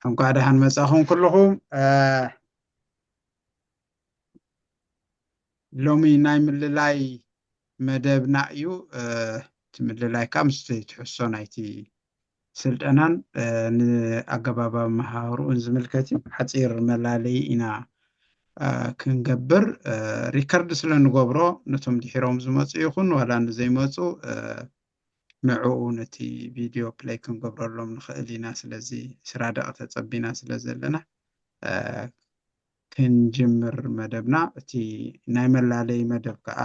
እንኳዕ ደሓን መጻኹም ኩልኹም ሎሚ ናይ ምልላይ መደብና እዩ እቲ ምልላይ ከዓ ምስቲ ትሕሶ ናይቲ ስልጠናን ንኣገባብ ኣመሃህርኡን ዝምልከት እዩ ሓፂር መላለይ ኢና ክንገብር ሪከርድ ስለ ንገብሮ ነቶም ድሒሮም ዝመፁ ይኹን ዋላ ንዘይመፁ ንዕኡ ነቲ ቪድዮ ፕለይ ክንገብረሎም ንኽእል ኢና ስለዚ ዕስራ ደቒቕ ተጸቢና ስለ ዘለና ክንጅምር መደብና እቲ ናይ መላለዪ መደብ ከኣ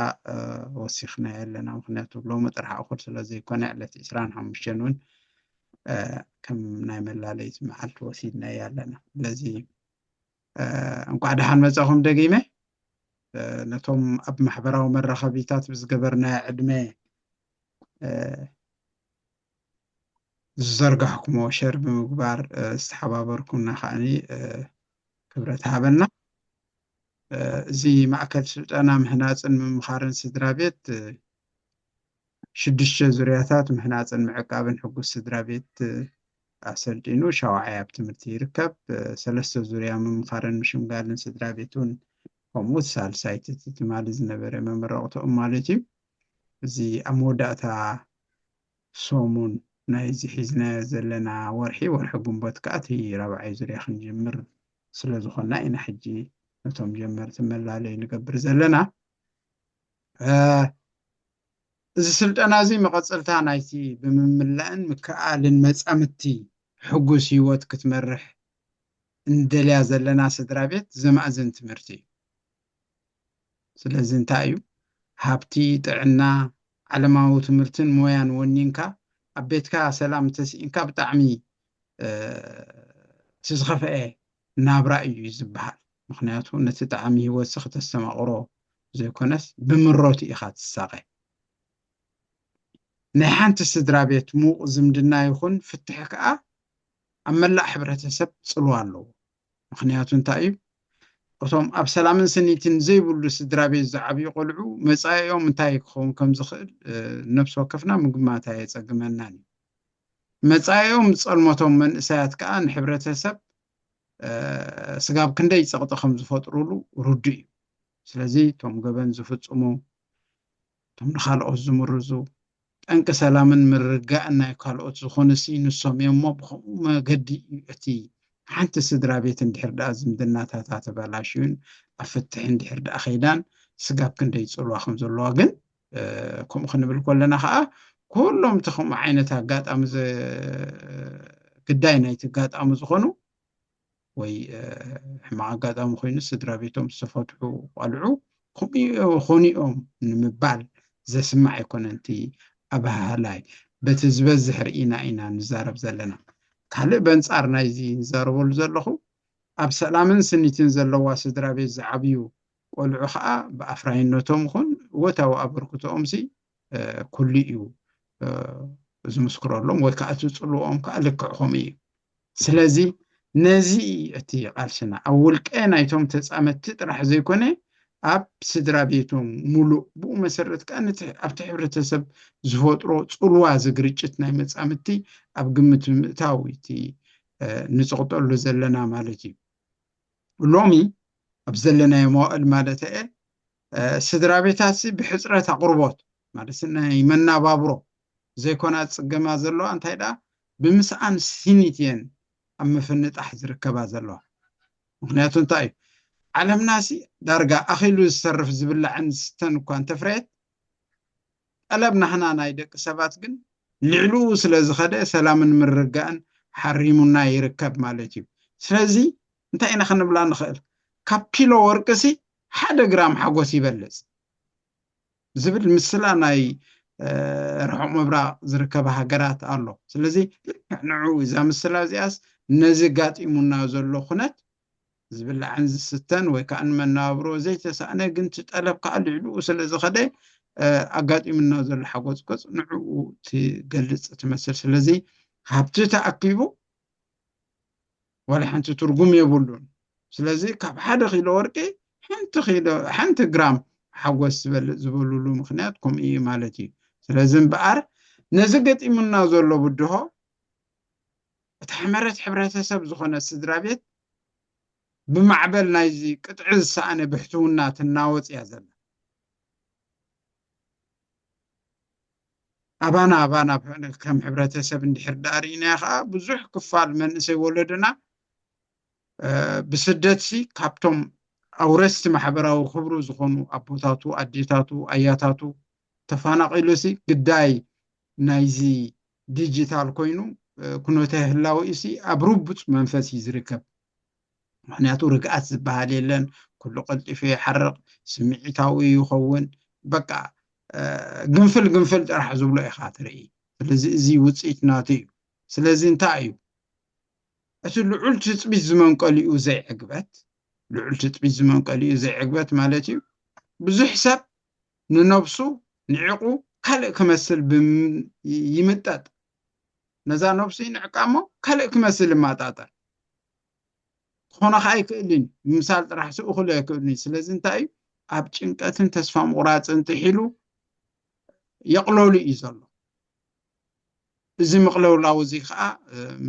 ወሲኽናዮ ኣለና ምኽንያቱ ሎሚ ጥራሕ እኹል ስለ ዘይኮነ ዕለት ዕስራን ሓሙሽተን እውን ከም ናይ መላለዪት መዓልቲ ወሲድናዮ ኣለና ስለዚ እንቋዕ ደሓን መጻኹም ደጊመ ነቶም ኣብ ማሕበራዊ መራኸቢታት ብዝገበርናዮ ዕድመ ዝዘርጋሕኩሞ ሸር ብምግባር ዝተሓባበርኩና ከዓኒ ክብረት ሃበና እዚ ማእከል ስልጠና ምህናፅን ምምኻርን ስድራ ቤት ሽዱሽተ ዙርያታት ምሕናጽን ምዕቃብን ሕጉስ ስድራቤት ኣሰልጢኑ ሻውዓይ ኣብ ትምህርቲ ይርከብ። ሰለስተ ዙርያ ምምኻርን ምሽምጋልን ስድራቤት እውን ከምኡ እቲ ሳልሳይ እቲ ትማሊ ዝነበረ መመረቕታኦም ማለት እዩ። እዚ ኣብ መወዳእታ ሰሙን ናይዚ ሒዝናዮ ዘለና ወርሒ ወርሒ ግንቦት ከኣ እቲ ራብዓይ ዙርያ ክንጅምር ስለዝኾንና ኢና ሕጂ ነቶም ጀመርቲ መላለይ ንገብር ዘለና። እዚ ስልጠና እዚ መቐጸልታ ናይቲ ብምምላእን ምክእኣልን መጻምድቲ ሕጉስ ህይወት ክትመርሕ እንደልያ ዘለና ስድራቤት ዘማእዝን ትምህርቲ እዩ። ስለዚ እንታይ እዩ ሃብቲ፣ ጥዕና፣ ዓለማዊ ትምህርትን ሞያን ወኒንካ ኣብ ቤትካ ሰላም እንተስኢንካ ብጣዕሚ እቲ ዝኸፍኤ ናብራ እዩ እዩ ዝበሃል ምኽንያቱ ነቲ ጣዕሚ ሂወትሲ ክተስተማቕሮ ዘይኮነስ ብምረቱ ኢኻ ትሳቐ ናይ ሓንቲ ስድራቤት ምዉቕ ዝምድና ይኹን ፍትሕ ከኣ ኣብ መላእ ሕብረተሰብ ጽልዋ ኣለዎ ምኽንያቱ እንታይ እዩ እቶም ኣብ ሰላምን ስኒትን ዘይብሉ ስድራቤት ዝዓብዩ ቆልዑ መጻኢኦም እንታይ ክኸውን ከም ዝኽእል ነብሲ ወከፍና ምግማት ኣየጸግመናን እዩ መጻኢኦም ዝጸልመቶም መንእሰያት ከኣ ንሕብረተሰብ ስጋብ ክንደይ ጸቕጢ ከም ዝፈጥሩሉ ርዱእ እዩ። ስለዚ እቶም ገበን ዝፍጽሙ፣ እቶም ንኻልኦት ዝምርዙ፣ ጠንቂ ሰላምን ምርግጋእን ናይ ካልኦት ዝኾኑሲ ንሶም እዮም እሞ ብኸምኡ መገዲ እዩ እቲ ሓንቲ ስድራ ቤት እንድሕር ደኣ ዝምድናታታ ተበላሽዩን ኣብ ፍትሒ እንድሕር ደኣ ከይዳን ስጋብ ክንደይ ጽልዋ ከም ዘለዋ ግን ከምኡ ክንብል ከለና ከዓ ኩሎም እቲ ከምኡ ዓይነት ኣጋጣሚ ግዳይ ናይቲ ኣጋጣሚ ዝኾኑ ወይ ሕማቕ ኣጋጣሚ ኮይኑ ስድራ ቤቶም ዝተፈትሑ ቋልዑ ከምኡ ኾኑ እዮም ንምባል ዘስማዕ ኣይኮነን እቲ ኣበሃህላይ በቲ ዝበዝሕ ርኢና ኢና ንዛረብ ዘለና ካልእ በንፃር ናይዚ ንዛረበሉ ዘለኹ ኣብ ሰላምን ስኒትን ዘለዋ ስድራ ቤት ዝዓብዩ ቆልዑ ከኣ ብኣፍራይነቶም ይኹን እወታዊ ኣበርክቶኦምሲ ኩሉ እዩ ዝምስክረሎም ወይ ከኣ እቲ ጽልወኦም ከኣ ልክዕ ከምኡ እዩ። ስለዚ ነዚ እቲ ቃልስና ኣብ ውልቀ ናይቶም ተጻመድቲ ጥራሕ ዘይኮነ ኣብ ስድራ ቤቶም ሙሉእ ብኡ መሰረት ከኣ ነቲ ኣብቲ ሕብረተሰብ ዝፈጥሮ ጽልዋ እዚ ግርጭት ናይ መጻምድቲ ኣብ ግምት ብምእታው እቲ ንጽቕጠሉ ዘለና ማለት እዩ። ሎሚ ኣብ ዘለናዮ መዋእል ማለተየ ስድራ ቤታትሲ ብሕጽረት ኣቕርቦት ማለት ናይ መናባብሮ ዘይኮና ዝጽገማ ዘለዋ እንታይ ደኣ ብምስኣን ስኒት እየን ኣብ ምፍንጣሕ ዝርከባ ዘለዋ ምክንያቱ እንታይ እዩ ዓለምናሲ ዳርጋ ኣኺሉ ዝተርፍ ዝብላዕን ዝስተን እኳ እንተፍረየት ጠለብ ናህና ናይ ደቂ ሰባት ግን ልዕሉኡ ስለ ዝኸደ ሰላምን ምርግጋእን ሓሪሙና ይርከብ ማለት እዩ። ስለዚ እንታይ ኢና ክንብላ ንኽእል? ካብ ኪሎ ወርቂሲ ሓደ ግራም ሓጎስ ይበልጽ ዝብል ምስላ ናይ ርሑቕ ምብራቕ ዝርከባ ሃገራት ኣሎ። ስለዚ ልክዕ ንዕኡ እዛ ምስላ እዚኣስ ነዚ ጋጢሙና ዘሎ ኩነት ዝብላዕን ዝስተን ወይ ከዓ ንመነባብሮ ዘይተሳእነ ግን እቲ ጠለብ ከዓ ልዕልኡ ስለ ዝኸደ ኣጋጢሙና ዘሎ ሓጎፅጎፅ ንዕኡ ትገልፅ ትመስል ስለዚ ሃብቲ ተኣኪቡ ዋላ ሓንቲ ትርጉም የብሉን ስለዚ ካብ ሓደ ኪሎ ወርቂ ሓንቲ ኪሎ ሓንቲ ግራም ሓጎስ ዝበልፅ ዝበሉሉ ምክንያት ከምኡ እዩ ማለት እዩ ስለዚ እምበኣር ነዚ ገጢሙና ዘሎ ብድሆ እቲ ሕመረት ሕብረተሰብ ዝኾነ ስድራቤት ብማዕበል ናይዚ ቅጥዒ ዝሰኣነ ብሕትውና ትናወጽ እያ ዘላ። ኣባና ኣባና ከም ሕብረተሰብ እንድሕር ደኣ ርኢናዮ ከኣ ብዙሕ ክፋል መንእሰይ ወለዶና ብስደትሲ ካብቶም ኣውረስቲ ማሕበራዊ ክብሩ ዝኾኑ ኣቦታቱ፣ ኣዴታቱ፣ ኣያታቱ ተፋናቒሉሲ ግዳይ ናይዚ ዲጂታል ኮይኑ ኩነተ ህላወኡሲ ኣብ ርቡፅ መንፈስ እዩ ዝርከብ። ምኽንያቱ ርግኣት ዝበሃል የለን፣ ኩሉ ቀልጢፉ ይሓርቕ፣ ስምዒታዊ ይኸውን፣ በቃ ግንፍል ግንፍል ጥራሕ ዝብሎ ኢኻ ትርኢ። ስለዚ እዚ ውፅኢት ናቱ እዩ። ስለዚ እንታይ እዩ እቲ ልዑል ትፅቢት ዝመንቀሊኡ ዘይዕግበት ልዑል ትፅቢት ዝመንቀሊኡ ዘይዕግበት ማለት እዩ ብዙሕ ሰብ ንነብሱ ንዒቑ ካልእ ክመስል ይምጠጥ፣ ነዛ ነብሱ ይንዕቃ እሞ ካልእ ክመስል ይመጣጠር። ክኾኖ ከኣ ኣይክእልን እዩ፣ ምምሳል ጥራሕሲ እኹል ኣይክእልን እዩ። ስለዚ እንታይ እዩ ኣብ ጭንቀትን ተስፋ ምቑራጽን ጥሒሉ የቕለሉ እዩ ዘሎ። እዚ ምቕልውላው እዚ ከኣ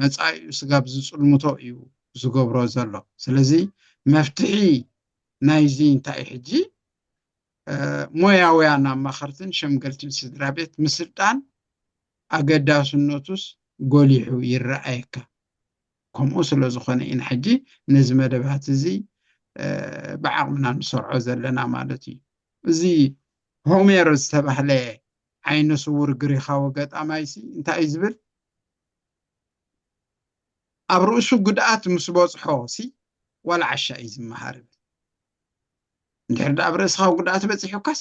መጻኢኡ ስጋብ ዝጽልምቶ እዩ ዝገብሮ ዘሎ። ስለዚ መፍትሒ ናይዚ እንታይ እዩ ሕጂ ሞያውያን ኣማኸርትን ሸምገልትን ስድራቤት ምስልጣን ኣገዳስነቱስ ጎሊሑ ይረኣየካ። ከምኡ ስለ ዝኾነ ኢና ሕጂ ነዚ መደባት እዚ ብዓቕምና ንሰርዖ ዘለና ማለት እዩ። እዚ ሆሜር ዝተባህለ ዓይነ ስዉር ግሪኻዊ ገጣማይሲ እንታይ እዩ ዝብል? ኣብ ርእሱ ጉድኣት ምስ በጽሖሲ ዋላ ዓሻ እዩ ዝመሃር ይብል። እንድሕር ደኣ ኣብ ርእስኻ ጉድኣት በጺሑካስ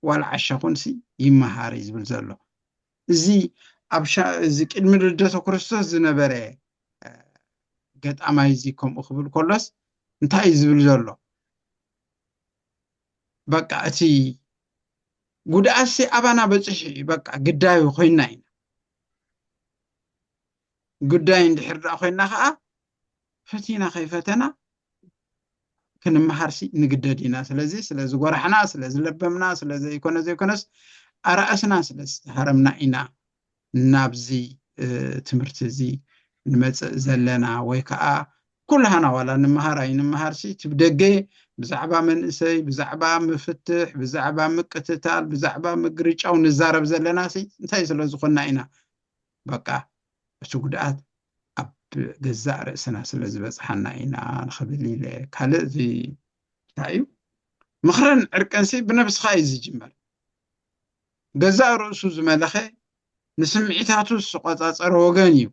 ዋላ ዓሻ ኩንሲ ይመሃር እዩ ዝብል ዘሎ እዚ ኣብ እዚ ቅድሚ ልደተ ክርስቶስ ዝነበረ ገጣማይ እዚ ከምኡ ክብል ከሎስ እንታይ እዩ ዝብል ዘሎ በቃ እቲ ጉድኣትሲ ኣባና በፅሑ እዩ በቃ ግዳዩ ኮይና ኢና ጉዳይ እንድሕር ደኣ ኮይና ከዓ ፈቲና ከይፈተና ክንመሃርሲ ንግደድ ኢና ስለዚ ስለ ዝጎራሕና ስለ ዝለበምና ስለ ዘይኮነ ዘይኮነስ ኣራእስና ስለ ዝተሃረምና ኢና ናብዚ ትምህርቲ እዚ ንመፅእ ዘለና ወይ ከዓ ኩልሃና ዋላ ንምሃር ኣይንምሃርሲ እቲ ብደገ ብዛዕባ መንእሰይ ብዛዕባ ምፍትሕ ብዛዕባ ምቅትታል ብዛዕባ ምግርጫው ንዛረብ ዘለናሲ እንታይ ስለ ዝኾና ኢና በቃ እቲ ጉድኣት ኣብ ገዛእ ርእስና ስለ ዝበጽሓና ኢና ንኽብል ኢለ። ካልእ እዚ እንታይ እዩ ምኽርን ዕርቅንሲ ብነብስኻ እዩ ዝጅመር። ገዛእ ርእሱ ዝመለኸ ንስምዒታቱ ዝቆጻጸረ ወገን እዩ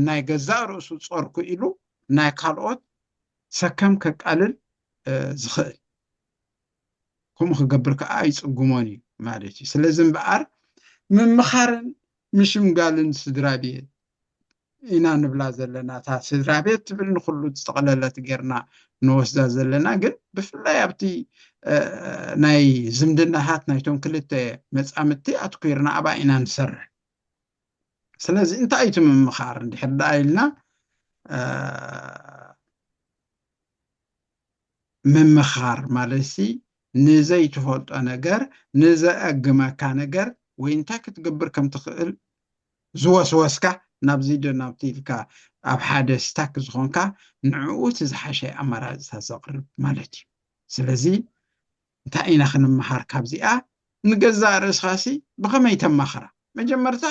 ናይ ገዛእ ርእሱ ጾር ክኢሉ ናይ ካልኦት ሰከም ከቃልል ዝኽእል። ከምኡ ክገብር ከኣ ኣይጽግሞን እዩ ማለት እዩ። ስለዚ እምበኣር ምምኻርን ምሽምጋልን ስድራቤት ኢና ንብላ ዘለና። እታ ስድራቤት ትብል ንኹሉ ዝጠቕለለት ጌርና ንወስዳ ዘለና ግን ብፍላይ ኣብቲ ናይ ዝምድናታት ናይቶም ክልተ መጻምድቲ ኣትኲርና ኣብኣ ኢና ንሰርሕ። ስለዚ እንታይ እዩ እቲ ምምኻር እንድሕር ደኣ ኢልና ምምኻር ማለትሲ ንዘይትፈልጦ ነገር፣ ንዘእግመካ ነገር ወይ እንታይ ክትገብር ከም ትኽእል ዝወስወስካ ናብዚ ዶ ናብቲ ኢልካ ኣብ ሓደ ስታክ ዝኾንካ ንዕኡ እቲ ዝሓሸ ኣማራጺታት ዘቕርብ ማለት እዩ። ስለዚ እንታይ ኢና ክንመሃር ካብዚኣ? ንገዛእ ርእስኻሲ ብኸመይ ተማኽራ? መጀመርታ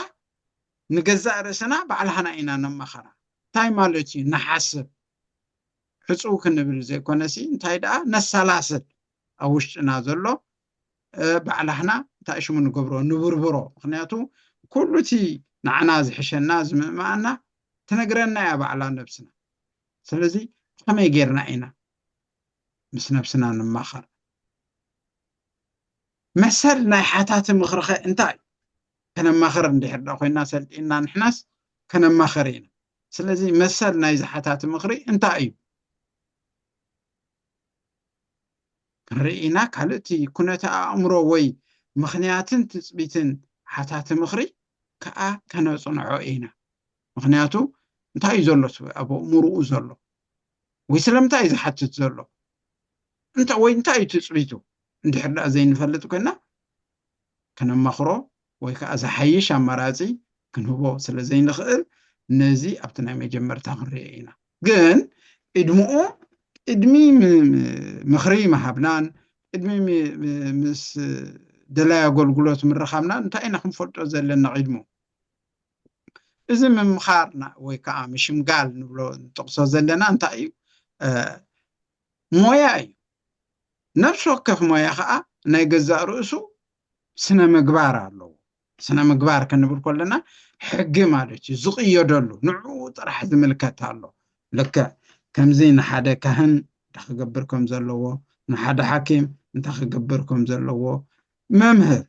ንገዛእ ርእስና ባዕልሃና ኢና ነማኽራ። እንታይ ማለት እዩ ንሓስብ ሕጹው ክንብል ዘይኮነሲ እንታይ ደኣ ነሰላስል ኣብ ውሽጥና ዘሎ ባዕላሕና እንታይ ሽሙ ንገብሮ ንብርብሮ ምክንያቱ ኩሉ እቲ ንዓና ዝሕሸና ዝምእምኣና ትነግረና እያ ባዕላ ነብስና ስለዚ ብከመይ ጌርና ኢና ምስ ነብስና ንማኸር መሰል ናይ ሓታቲ ምኽሪኸ እንታይ እዩ? ከነማኽር እንድሕር ድኣ ኮይና ሰልጢንና ንሕናስ ከነማኽር ኢና። ስለዚ መሰል ናይዚ ሓታቲ ምኽሪ እንታይ እዩ? ክንርኢ ኢና። ካልእ እቲ ኩነተ ኣእምሮ ወይ ምኽንያትን ትጽቢትን ሓታቲ ምኽሪ ከኣ ከነጽንዖ ኢና። ምኽንያቱ እንታይ እዩ ዘሎ እቲ ኣብ ኣእምርኡ ዘሎ? ወይ ስለምንታይ እዩ ዝሓትት ዘሎ እንታይ ወይ እንታይ እዩ ትጽቢቱ እንድሕር ደኣ ዘይንፈልጥ ኮይና ከነማኽሮ ወይ ከዓ ዝሓይሽ ኣማራጺ ክንህቦ ስለ ዘይንኽእል ነዚ ኣብቲ ናይ መጀመርታ ክንሪኦ ኢና ግን ዕድምኡ ቅድሚ ምኽሪ ምሃብናን ቅድሚ ምስ ደላይ ኣገልግሎት ምርኻብና እንታይ ኢና ክንፈልጦ ዘለና ቅድሙ እዚ ምምኻር ወይ ከዓ ምሽምጋል ንብሎ ንጠቕሶ ዘለና እንታይ እዩ? ሞያ እዩ። ነፍሲ ወከፍ ሞያ ከዓ ናይ ገዛእ ርእሱ ስነ ምግባር ኣለዎ። ስነ ምግባር ክንብል ከለና ሕጊ ማለት እዩ፣ ዝቕየደሉ ንዕኡ ጥራሕ ዝምልከት ኣሎ። ልክዕ ከምዚ ንሓደ ካህን እንታይ ክገብር ከም ዘለዎ፣ ንሓደ ሓኪም እንታይ ክገብር ከም ዘለዎ፣ መምህር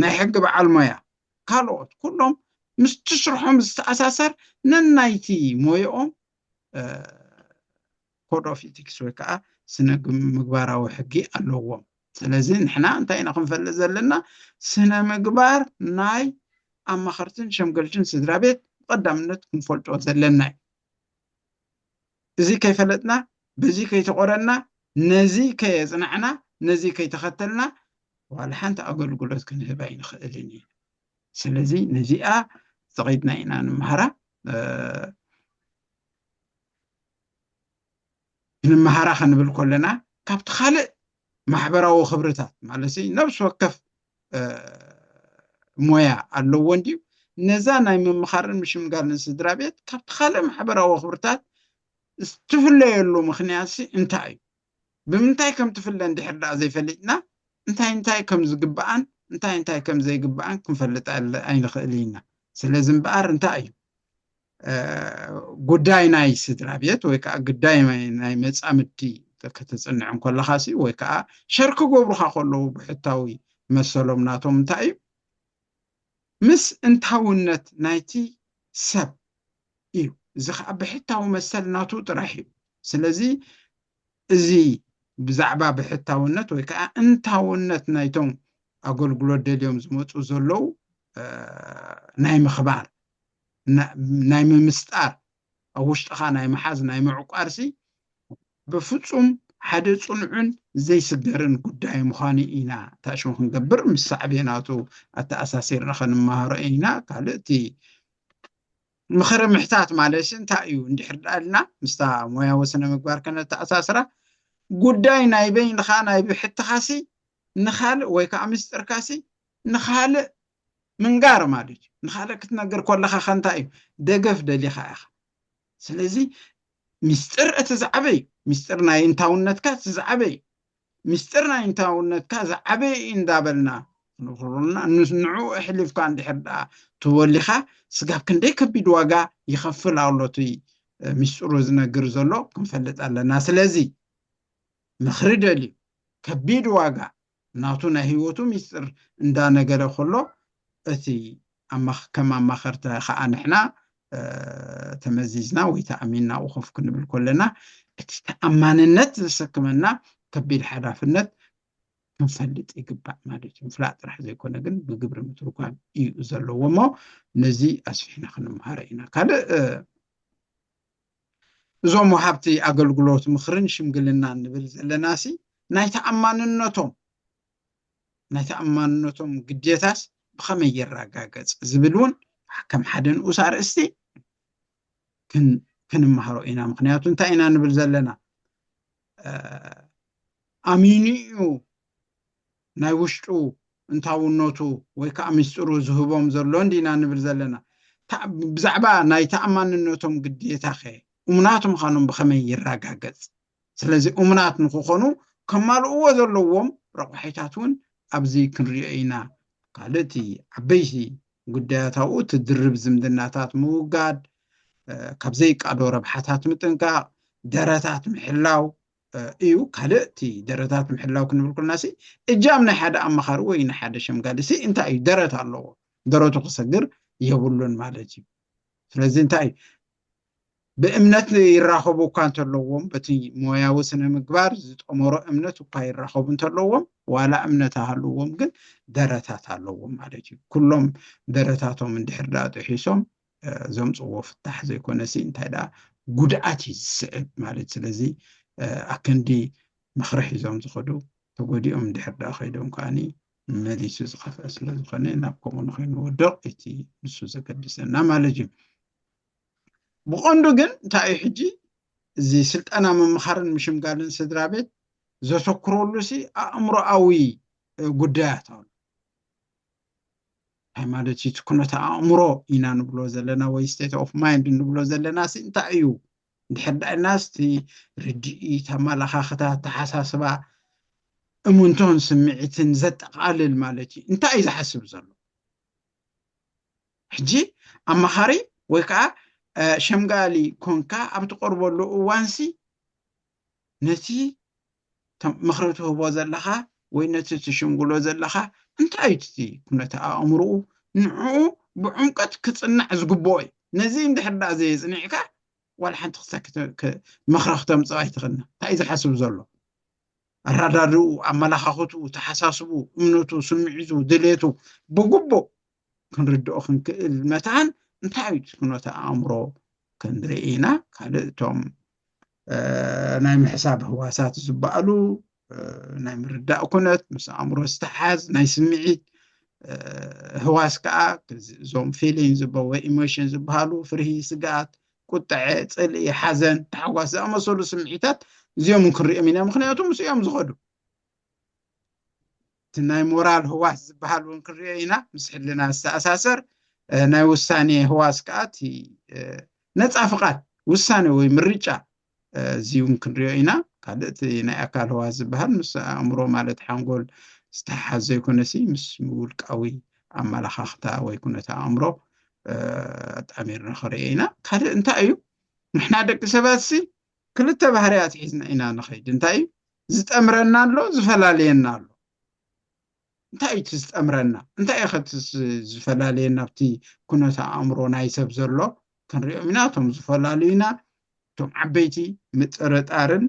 ናይ ሕጊ በዓል ሞያ ካልኦት ኩሎም ምስቲ ስርሖም ዝተኣሳሰር ነናይቲ ሞየኦም ኮድ ኦፍ ኢቲክስ ወይ ከዓ ስነ ምግባራዊ ሕጊ ኣለዎም። ስለዚ ንሕና እንታይ ኢና ክንፈልጥ ዘለና ስነ ምግባር ናይ ኣማኸርትን ሸምገልትን ስድራ ቤት ብቀዳምነት ክንፈልጦ ዘለና እዩ። እዚ ከይፈለጥና በዚ ከይተቆረና ነዚ ከየጽናዕና ነዚ ከይተኸተልና ዋላ ሓንቲ ኣገልግሎት ክንህብ ኣይንኽእልን ኢና ስለዚ ነዚኣ ፈቒድና ኢና ንምሃራ ንምሃራ ክንብል ኮለና ካብቲ ካልእ ማሕበራዊ ክብርታት ማለት ነብሲ ወከፍ ሞያ ኣለዎ እንድዩ ነዛ ናይ ምምኻርን ምሽምጋልን ስድራ ቤት ካብቲ ካልእ ማሕበራዊ ክብርታት እትፍለየሉ ምክንያት እንታይ እዩ ብምንታይ ከም ትፍለ እንድሕር ደኣ ዘይፈሊጥና እንታይ እንታይ ከም ዝግብኣን እንታይ እንታይ ከም ዘይግብኣን ክንፈልጥ ኣይንኽእል ኢና ስለዚ እምበኣር እንታይ እዩ ጉዳይ ናይ ስድራ ቤት ወይ ከዓ ግዳይ ናይ መፃምድቲ ከተፅንዕ እንከለኻሲ ወይ ከዓ ሸር ክገብሩኻ ከለዉ ብሕታዊ መሰሎም ናቶም እንታይ እዩ ምስ እንታውነት ናይቲ ሰብ እዩ እዚ ከዓ ብሕታዊ መሰል ናቱ ጥራሕ እዩ ስለዚ እዚ ብዛዕባ ብሕታውነት ወይ ከዓ እንታውነት ናይቶም ኣገልግሎት ደልዮም ዝመፁ ዘለዉ ናይ ምኽባር ናይ ምምስጣር ኣብ ውሽጥኻ ናይ ምሓዝ ናይ ምዕቋርሲ ብፍጹም ሓደ ጽኑዕን ዘይስገርን ጉዳይ ምዃኑ ኢና ታሽሙ ክንገብር ምስ ሳዕቤናቱ ኣተኣሳሲርና ከንመሃሮ ኢና ካልእ እቲ ምኽሪ ምሕታት ማለትሲ እንታይ እዩ እንድሕር ደኣ ኢልና ምስታ ሞያዊ ስነ ምግባር ከነተኣሳስራ ጉዳይ ናይ በይንኻ ናይ ብሕትኻሲ ንኻልእ ወይ ከዓ ምስጢርካሲ ንኻልእ ምንጋር ማለት እዩ ንካልእ ክትነግር ኮለካ ከ እንታይ እዩ ደገፍ ደሊካ ኢካ ስለዚ ሚስጥር እቲ ዝዓበይ እዩ ሚስጥር ናይ እንታውነትካ እቲ ዝዓበይ እዩ ሚስጥር ናይ እንታውነትካ ዝዓበይ እዩ እንዳበልና ንኩሩና ንዑ እሕሊፍካ እንድሕር ደኣ ተወሊካ ስጋብ ክንደይ ከቢድ ዋጋ ይከፍል ኣሎ እቲ ሚስጥሩ ዝነግር ዘሎ ክንፈልጥ ኣለና ስለዚ ምክሪ ደልዩ ከቢድ ዋጋ ናቱ ናይ ህይወቱ ሚስጥር እንዳ ነገረ ከሎ እቲ ከም ኣማኸርቲ ከኣ ንሕና ተመዚዝና ወይ ተኣሚንና ኣብኡ ኮፍ ክንብል ከለና እቲ ተኣማንነት ዘሰክመና ከቢድ ሓላፍነት ክንፈልጥ ይግባእ ማለት እዩ ምፍላጥ ጥራሕ ዘይኮነ ግን ብግብሪ ምትርጓም እዩ ዘለዎ እሞ ነዚ ኣስፊሕና ክንምሃሮ ኢና ካልእ እዞም ወሃብቲ ኣገልግሎት ምኽርን ሽምግልናን ንብል ዘለናሲ ናይ ተኣማንነቶም ናይ ተኣማንነቶም ግዴታስ ብኸመይ ይረጋገጽ ዝብል እውን ከም ሓደ ንኡስ ኣርእስቲ ክንመሃሮ ኢና ምክንያቱ እንታይ ኢና ንብል ዘለና ኣሚኑ እዩ ናይ ውሽጡ እንታውነቱ ወይ ከኣ ምስጢሩ ዝህቦም ዘሎ እንዲና ንብል ዘለና። ብዛዕባ ናይ ተኣማንነቶም ግዴታኸ እሙናት ምዃኖም ብኸመይ ይረጋገጽ? ስለዚ እሙናት ንኽኾኑ ከማልእዎ ዘለዎም ረቋሒታት እውን ኣብዚ ክንሪኦ ኢና። ካልእቲ ዓበይቲ ጉዳያት ኣብኡ እቲ ድርብ ዝምድናታት ምውጋድ፣ ካብ ዘይቃዶ ረብሓታት ምጥንቃቕ፣ ደረታት ምሕላው፣ እዩ ካልእ እቲ ደረታት ምሕላው ክንብል ኩልናሲ እጃም ናይ ሓደ ኣማኻሪ ወይ ናይ ሓደ ሸምጋሊሲ እንታይ እዩ ደረት ኣለዎ ደረቱ ክሰግር የብሉን ማለት እዩ ስለዚ እንታይ እዩ ብእምነት ይራኸቡ እኳ እንተለዎም በቲ ሞያዊ ስነ ምግባር ዝጠመሮ እምነት እኳ ይራኸቡ እንተለዎም ዋላ እምነት ኣሃልዎም ግን ደረታት ኣለዎም ማለት እዩ ኩሎም ደረታቶም እንድሕር ዳኣ ጥሒሶም ዘምጽዎ ፍታሕ ዘይኮነሲ እንታይ ደኣ ጉድኣት እዩ ዝስዕብ ማለት ስለዚ ኣክንዲ ምኽሪ ሒዞም ዝኸዱ ተጎዲኦም ድሕር ደኣ ከይዶም ከኣኒ መሊሱ ዝኸፍአ ስለ ዝኾነ ናብ ከምኡ ንኸይንወድቕ እቲ ንሱ ዘገድሰና ማለት እዩ ብቐንዱ ግን እንታይ እዩ ሕጂ እዚ ስልጠና ምምኻርን ምሽምጋልን ስድራ ቤት ዘተኩረሉ ሲ ኣእምሮኣዊ ጉዳያት ኣሎ እንታይ ማለት እዩ እቲ ኩነተ ኣእምሮ ኢና ንብሎ ዘለና ወይ ስቴት ኦፍ ማይንድ ንብሎ ዘለና ሲ እንታይ እዩ እንድሕር ዳኢልናስ እቲ ርድኢት ኣመላኻኽታ ኣተሓሳስባ እሙንቶን ስምዒትን ዘጠቓልል ማለት እዩ እንታይ እዩ ዝሓስብ ዘሎ ሕጂ ኣማኻሪ ወይ ከዓ ሸምጋሊ ኮንካ ኣብ ትቐርበሉ እዋንሲ ነቲ ምኽሪ ትህቦ ዘለኻ ወይ ነቲ ትሽምግሎ ዘለኻ እንታይ እዩ እቲ ኩነተ ኣእምሮኡ ንዕኡ ብዑምቀት ክጽናዕ ዝግብኦ እዩ። ነዚ እንድሕር ደኣ ዘየጽኒዕካ ዋላ ሓንቲ ክሳኪ ምኽሪ ክተምጽእ ኣይትኽእልን። እንታይ እዩ ዝሓስብ ዘሎ? ኣረዳድኡ፣ ኣመላኻኽትኡ፣ ተሓሳስብኡ፣ እምነቱ፣ ስምዒቱ፣ ድሌቱ ብግቡእ ክንርድኦ ክንክእል መታን እንታይ እዩ ኩነተ ኣእምሮ ክንርኢ ኢና ካልእ እቶም ናይ ምሕሳብ ህዋሳት ዝበኣሉ ናይ ምርዳእ ኩነት ምስ ኣእምሮ ዝተሓዝ ናይ ስምዒት ህዋስ ከዓ እዞም ፊሊን ዝብ ወይ ኢሞሽን ዝበሃሉ ፍርሂ ስግኣት ቁጠዐ ፅልኢ ሓዘን ታሕጓስ ዝኣመሰሉ ስምዒታት እዚኦም ክንሪኦም ኢና ምክንያቱ ምስ እዮም ዝኸዱ እቲ ናይ ሞራል ህዋስ ዝበሃል እውን ክንሪኦ ኢና፣ ምስ ሕልና ዝተኣሳሰር ናይ ውሳኔ ህዋስ ከኣ እቲ ነጻ ፍቓድ ውሳኔ ወይ ምርጫ እዚ እውን ክንሪኦ ኢና። ካልእ እቲ ናይ ኣካል ህዋስ ዝበሃል ምስ ኣእምሮ ማለት ሓንጎል ዝተሓሓዝ ዘይኮነሲ ምስ ውልቃዊ ኣመላኻኽታ ወይ ኩነተ ኣእምሮ ኣጣሚርና ክንሪኦ ኢና። ካልእ እንታይ እዩ ንሕና ደቂ ሰባትሲ ክልተ ባህርያት ሒዝና ኢና ንኸይድ እንታይ እዩ ዝጠምረና ኣሎ ዝፈላልየና ኣሎ እንታይ እዩ እቲ ዝጠምረና እንታይ እዩ ከቲ ዝፈላልየና ኣብቲ ኩነተ ኣእምሮ ናይ ሰብ ዘሎ ክንሪኦም ኢና እቶም ዝፈላልዩና እቶም ዓበይቲ ምጥርጣርን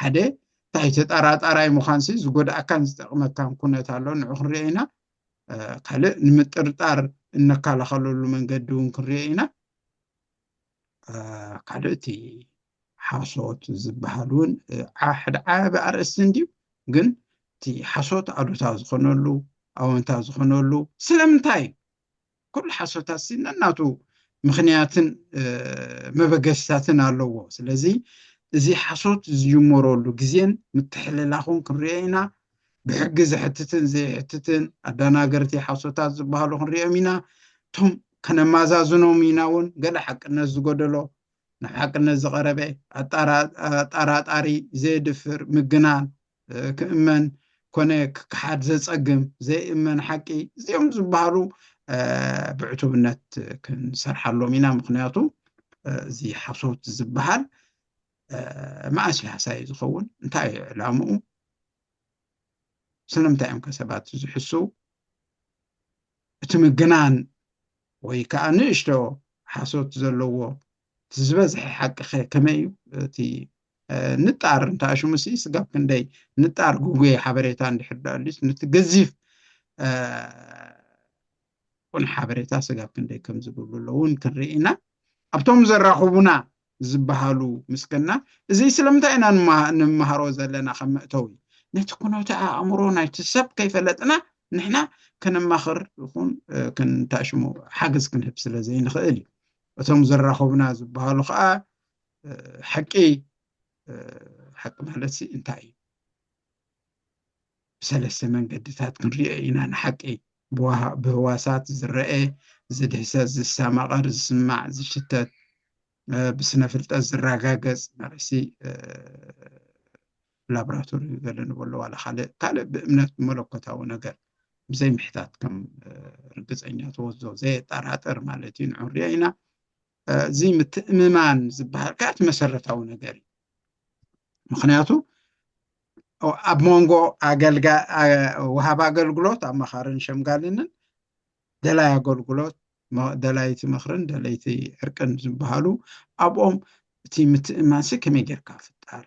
ሓደ እንታይ ተጠራጣራይ ምዃንሲ ዝጎድኣካን ዝጠቕመካን ኩነት ኣሎ ንዑ ክንሪኦ ኢና ካልእ ንምጥርጣር እነከላኸለሉ መንገዲ እውን ክንሪኦ ኢና ካልእ እቲ ሓሶት ዝበሃል እውን ሓደ ዓቢ ኣርእስቲ እንድዩ ግን እቲ ሓሶት ኣሉታ ዝኾነሉ ኣወንታ ዝኾነሉ ስለምንታይ እዩ ኩሉ ሓሶታት ሲ ነናቱ ምክንያትን መበገስታትን ኣለዎ ስለዚ እዚ ሓሶት ዝጅመረሉ ግዜን ምትሕልላኹን ክንሪኦ ኢና ብሕጊ ዘሕትትን ዘይሕትትን ኣዳናገርቲ ሓሶታት ዝበሃሉ ክንሪኦም ኢና እቶም ከነማዛዝኖም ኢና እውን ገለ ሓቅነት ዝጎደሎ ናብ ሓቅነት ዝቐረበ ኣጣራጣሪ ዘየድፍር ምግናን ክእመን ኮነ ክከሓድ ዘፀግም ዘይእመን ሓቂ እዚኦም ዝበሃሉ ብዕቱብነት ክንሰርሓሎም ኢና ምክንያቱ እዚ ሓሶት ዝበሃል መኣስ እዩ ሃሳይ ዝኸውን እንታይ እዩ ዕላምኡ ስለምንታይ እዮም ከሰባት ዝሕስው እቲ ምግናን ወይ ከዓ ንእሽቶ ሓሶት ዘለዎ እቲ ዝበዝሐ ሓቂ ኸ ከመይ እዩ እቲ ንጣር እንተኣሽሙ ሲ ስጋብ ክንደይ ንጣር ጉጉየ ሓበሬታ እንድሕር ዳኣልዩስ ነቲ ገዚፍ ቁን ሓበሬታ ስጋብ ክንደይ ከም ዝብሉ ኣለውን ክንርኢ ኢና ኣብቶም ዘራኽቡና ዝበሃሉ ምስገና እዙይ ስለምንታይ ኢና ንመሃሮ ዘለና ከም መእተዊ ነቲ ኩነተ ኣእምሮ ናይቲ ሰብ ከይፈለጥና ንሕና ከነማኽር ይኹን ክንታሽሙ ሓገዝ ክንህብ ስለ ዘይንኽእል እዩ እቶም ዘራኸቡና ዝበሃሉ ከዓ ሓቂ ሓቂ ማለት እንታይ እዩ ብሰለስተ መንገድታት ክንሪኦ ኢና ንሓቂ፣ ብህዋሳት ዝረኤ፣ ዝድህሰስ፣ ዝሰማቐር፣ ዝስማዕ፣ ዝሽተት፣ ብስነ ፍልጠት ዝራጋገጽ፣ መልሲ ላብራቶሪ ገለ ንበሎ ዋላ ካልእ ካልእ ብእምነት ብመለኮታዊ ነገር ብዘይ ምሕታት ከም ርግጸኛ ተወዞ ዘየጠራጥር ማለት እዩ ንዑሪኦ ኢና እዚ ምትእምማን ዝበሃል ከዓ እቲ መሰረታዊ ነገር እዩ ምክንያቱ ኣብ መንጎ ወሃብ ኣገልግሎት ኣማኻርን ሸምጋልንን ደላይ ኣገልግሎት ደላይቲ ምክርን ደለይቲ ዕርቅን ዝበሃሉ ኣብኦም እቲ ምትእማንሲ ከመይ ጌርካ ፍጣር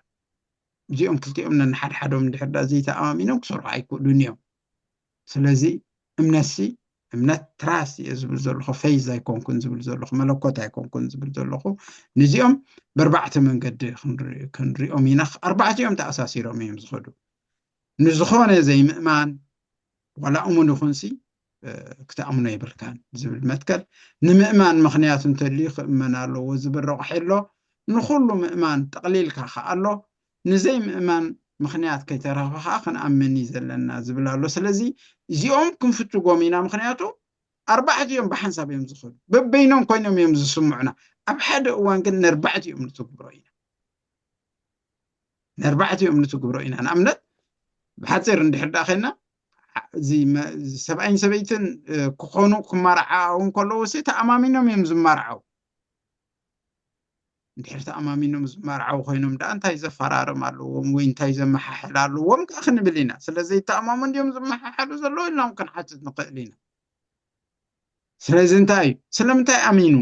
እዚኦም ክልቲኦም ነንሓድሓዶም እንድሕር ዳ ዘይተኣማሚኖም ክሰርሑ ኣይክእሉን እዮም ስለዚ እምነትሲ እምነት ትራስ እየ ዝብል ዘለኹ ፈይዝ ኣይኮንኩን ዝብል ዘለኹ መለኮት ኣይኮንኩን ዝብል ዘለኹ ንዚኦም በርባዕተ መንገዲ ክንሪኦም ኢና ኣርባዕቲኦም ተኣሳሲሮም እዮም ዝኸዱ ንዝኾነ ዘይምእማን ዋላ እሙን ይኹንሲ ክትኣምኖ የብልካን ዝብል መትከል ንምእማን ምክንያቱ እንተልዩ ክእመን ኣለዎ ዝብል ረቑሒ ኣሎ ንኩሉ ምእማን ጠቕሊልካ ከኣሎ ንዘይምእማን ምኽንያት ከይተረኽበ ከኣ ክንኣምን እዩ ዘለና ዝብል ኣሎ ስለዚ እዚኦም ክንፍትጎም ኢና ምኽንያቱ ኣርባዕቲኦም ብሓንሳብ እዮም ዝኸዱ በበይኖም ኮይኖም እዮም ዝስምዑና ኣብ ሓደ እዋን ግን ነርባዕቲኦም ንትግብሮ ኢና ነርባዕቲኦም ንትግብሮ ኢና ንኣብነት ብሓፂር እንድሕር ዳኣ ኸና ሰብኣይን ሰበይትን ክኾኑ ክማርዓው እንከለዉ ሲ ተኣማሚኖም እዮም ዝማርዓው እንድሕር ተኣማሚኖም ዝመርዓው ኮይኖም ደኣ እንታይ ዘፈራርም ኣለዎም ወይ እንታይ ዘመሓሕል ኣለዎም ከ ክንብል ኢና ስለ ዘይተኣማሙ እንዲዮም ዝመሓሓሉ ዘለዎ ኢልናም ክንሓትት ንኽእል ኢና ስለዚ እንታይ እዩ ስለምንታይ ኣሚኑ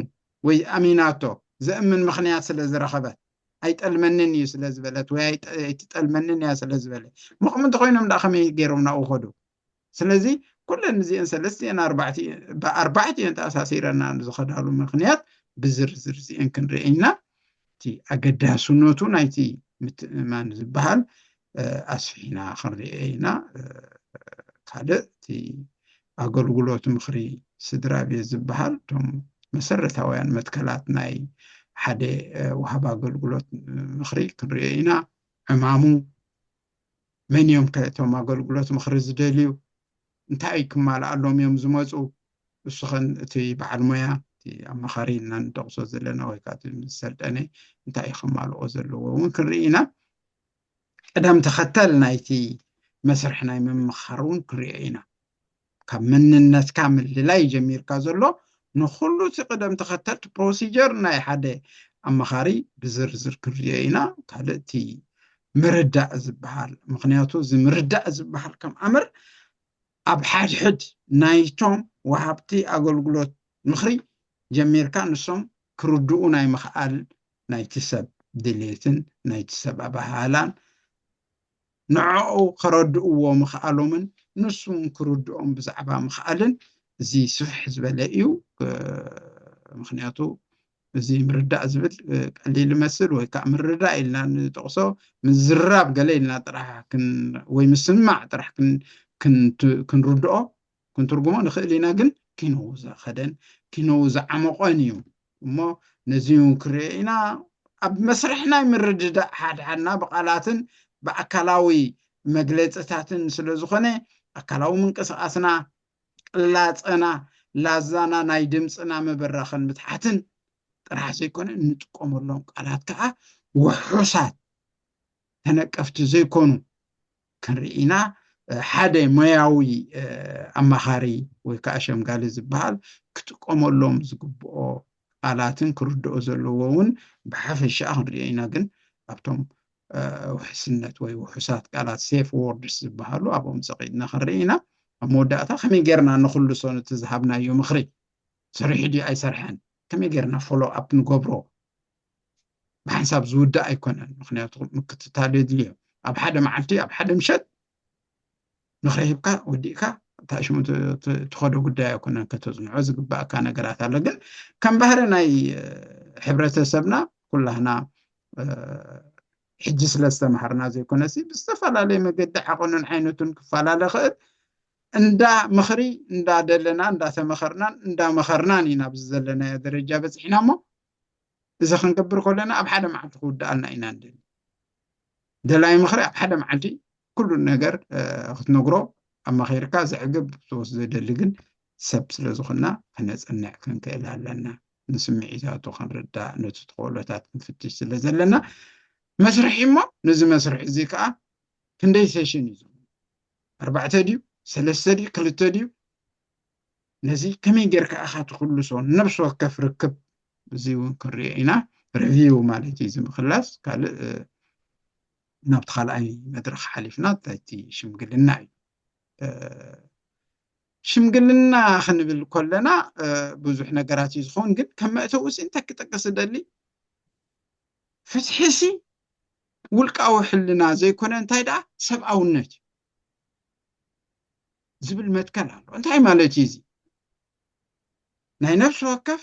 ወይ ኣሚናቶ ዘእምን ምክንያት ስለ ዝረኸበት ኣይጠልመንን እዩ ስለ ዝበለት ወይ ኣይትጠልመንን እያ ስለ ዝበለ ምቕም እንተኮይኖም ደኣ ከመይ ገይሮም ናብኡ ከዱ ስለዚ ኩለን እዚኤን ሰለስቲኤን ኣርባዕቲኤን ብኣርባዕቲኤን ተኣሳሲረና ዝኸዳሉ ምክንያት ብዝርዝር እዚኤን ክንርኢ ኢና እቲ ኣገዳስነቱ ናይቲ ምትእምማን ዝበሃል ኣስፊሕና ክንርኤ ኢና ካልእ እቲ ኣገልግሎት ምኽሪ ስድራ ቤት ዝበሃል እቶም መሰረታውያን መትከላት ናይ ሓደ ወሃብ ኣገልግሎት ምኽሪ ክንሪኦ ኢና ዕማሙ መን እዮም ከ እቶም ኣገልግሎት ምኽሪ ዝደልዩ? እንታይ ክማልኣሎም እዮም ዝመጹ? እሱ ከ እቲ በዓል ሞያ፣ እቲ ኣማኻሪ ኢልና ንጠቕሶ ዘለና ወይ ከኣ እቲ ዝሰልጠነ እንታይ እዩ ከማልኦ ዘለዎ እውን ክንርኢ ኢና። ቅደም ተኸተል ናይቲ መስርሕ ናይ ምምኻር እውን ክንሪኦ ኢና። ካብ መንነትካ ምልላይ እዩ ጀሚርካ ዘሎ ንኩሉ እቲ ቅደም ተከተልቲ ፕሮሲጀር ናይ ሓደ ኣማኻሪ ብዝርዝር ክንሪኦ ኢና ካልእ እቲ ምርዳእ ዝበሃል ምክንያቱ እዚ ምርዳእ ዝበሃል ከም ኣምር ኣብ ሓድሕድ ናይቶም ወሃብቲ ኣገልግሎት ምክሪ ጀሚርካ ንሶም ክርድኡ ናይ ምክኣል ናይቲ ሰብ ድሌትን ናይቲ ሰብ ኣበሃህላን ንዕዑ ከረድእዎ ምኽኣሎምን ንሱውን ክርድኦም ብዛዕባ ምኽኣልን እዚ ስፍሕ ዝበለ እዩ ምኽንያቱ እዚ ምርዳእ ዝብል ቀሊል ይመስል ወይ ከዓ ምርዳእ ኢልና ንጠቕሶ ምዝራብ ገለ ኢልና ጥራሕ ወይ ምስማዕ ጥራሕ ክንርድኦ ክንትርጉሞ ንኽእል ኢና ግን ኪኖ ዝኸደን ኪኖ ዝዓመቖን እዩ እሞ ነዚ እውን ክንሪኦ ኢና ኣብ መስርሕ ናይ ምርድዳእ ሓድሓድና ብቓላትን ብኣካላዊ መግለፅታትን ስለ ዝኾነ ኣካላዊ ምንቅስቓስና ቅላፀና ላዛና ናይ ድምፅና ምብራኽን ምትሓትን ጥራሕ ዘይኮነ እንጥቀመሎም ቃላት ከዓ ውሑሳት ተነቀፍቲ ዘይኮኑ ክንርኢ ኢና። ሓደ ሞያዊ ኣማኻሪ ወይ ከዓ ሸምጋሊ ዝበሃል ክጥቀመሎም ዝግብኦ ቃላትን ክርድኦ ዘለዎ እውን ብሓፈሻ ክንሪኦ ኢና። ግን ኣብቶም ውሕስነት ወይ ውሑሳት ቃላት ሴፍ ዎርድስ ዝበሃሉ ኣብኦም ፀቂጥና ክንርኢ ኢና። ኣብ መወዳእታ ከመይ ጌርና ንክልሶ ነቲ ዝሃብናዮ ምኽሪ ሰሪሑ ድዩ ኣይሰርሐን ከመይ ጌርና ፎሎ ኣፕ ንገብሮ ብሓንሳብ ዝውዳእ ኣይኮነን ምክንያቱ ምክትታል የድልዮ ኣብ ሓደ መዓልቲ ኣብ ሓደ ምሸት ምክሪ ሂብካ ወዲእካ እታ ሽሙ ትኸዶ ጉዳይ ኣይኮነን ከተፅንዖ ዝግባእካ ነገራት ኣሎ ግን ከም ባህሪ ናይ ሕብረተሰብና ኩላህና ሕጂ ስለ ዝተምሃርና ዘይኮነሲ ብዝተፈላለየ መገዲ ዓቐኑን ዓይነቱን ክፈላለ ክእል እንዳ ምክሪ እንዳደለና እንዳተመኸርናን እንዳመኸርናን ኢና ብዝዘለናዮ ደረጃ በፂሕና እሞ እዚ ክንገብር ከለና ኣብ ሓደ መዓልቲ ክውድኣልና ኢና ንደሊ ደላይ ምኽሪ ኣብ ሓደ መዓልቲ ኩሉ ነገር ክትነግሮ ኣማኺርካ ዘዕግብ ሶስ ዘደሊ ግን ሰብ ስለ ዝኾና ክነፅንዕ ክንክእል ኣለና ንስምዒታቱ ክንርዳእ ነቲ ተኽእሎታት ክንፍትሽ ስለ ዘለና መስርሒ እሞ ነዚ መስርሒ እዚ ከዓ ክንደይ ሴሽን እዩ ኣርባዕተ ድዩ ሰለስተ ድዩ ክልተ ድዩ ነዚ ከመይ ጌርካ ኢኻ ትኽልሶ ነብሲ ወከፍ ርክብ እዚ እውን ክንሪኦ ኢና ሪቪው ማለት እዩ እዚ ምክላስ ካልእ ናብቲ ካልኣይ መድረኽ ሓሊፍና እቲ ሽምግልና እዩ ሽምግልና ክንብል ኮለና ብዙሕ ነገራት እዩ ዝኸውን ግን ከም መእተዊ ሲ እንታይ ክጠቅስ እደሊ ፍትሒ ሲ ውልቃዊ ሕልና ዘይኮነ እንታይ ደኣ ሰብኣውነት እዩ ዝብል መትከል ኣሎ። እንታይ ማለት እዩ እዚ? ናይ ነብሲ ወከፍ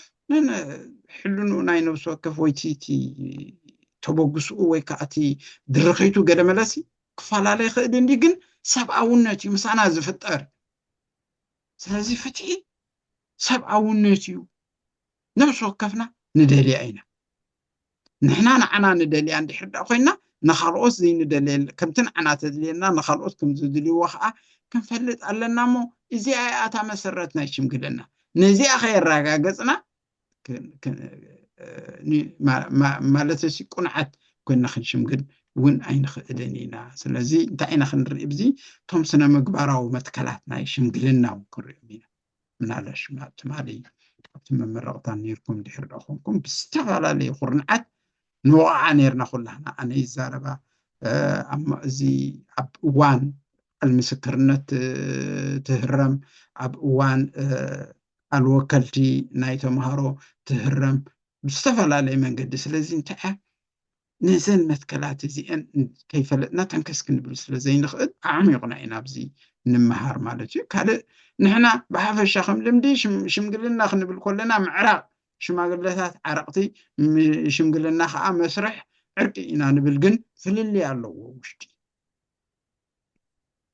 ሕልንኡ ናይ ነብሲ ወከፍ ወይ እቲ ተበግስኡ ወይ ከዓ እቲ ድርኺቱ ገለ መለሲ ክፈላለ ይኽእል እንዲ ግን ሰብኣውነት እዩ ምሳና ዝፍጠር። ስለዚ ፍትሒ ሰብኣውነት እዩ። ነብሲ ወከፍና ንደልያ ኢና። ንሕና ንዓና ንደልያ እንድሕር ደኣ ኮይና ንኻልኦት ዘይንደልየል ከምቲ ንዓና ተድልየና ንኻልኦት ከም ዝድልይዎ ከኣ ክንፈልጥ ኣለና እሞ እዚኣ እያ እታ መሰረት ናይ ሽምግልና ነዚኣ ከየራጋገጽና ማለተሲ ቁንዓት ኮይና ክንሽምግል እውን ኣይንኽእልን ኢና ስለዚ እንታይ ኢና ክንርኢ ብዚ እቶም ስነ ምግባራዊ መትከላት ናይ ሽምግልና እውን ክንሪኦም ኢና ምናልባሽ ኣብ ትማሊ ኣብቲ መመረቕታ ነይርኩም ድሕሪ ዶ ኮንኩም ብዝተፈላለየ ኩርንዓት ንወቕዓ ነይርና ኩላህና ኣነ ይዛረባ እዚ ኣብ እዋን ቃል ምስክርነት ትህረም ኣብ እዋን ቃል ወከልቲ ናይ ተምሃሮ ትህረም ብዝተፈላለየ መንገዲ ስለዚ እንታይ እያ ነዘን መትከላት እዚኤን ከይፈለጥና ተንከስ ክንብል ስለ ዘይንኽእል ኣዕሚቑና ኢና ኣብዚ ንመሃር ማለት እዩ ካልእ ንሕና ብሓፈሻ ከም ልምዲ ሽምግልና ክንብል ኮለና ምዕራቕ ሽማግለታት ዓረቕቲ ሽምግልና ከዓ መስርሕ ዕርቂ ኢና ንብል ግን ፍልልይ ኣለዎ ውሽጢ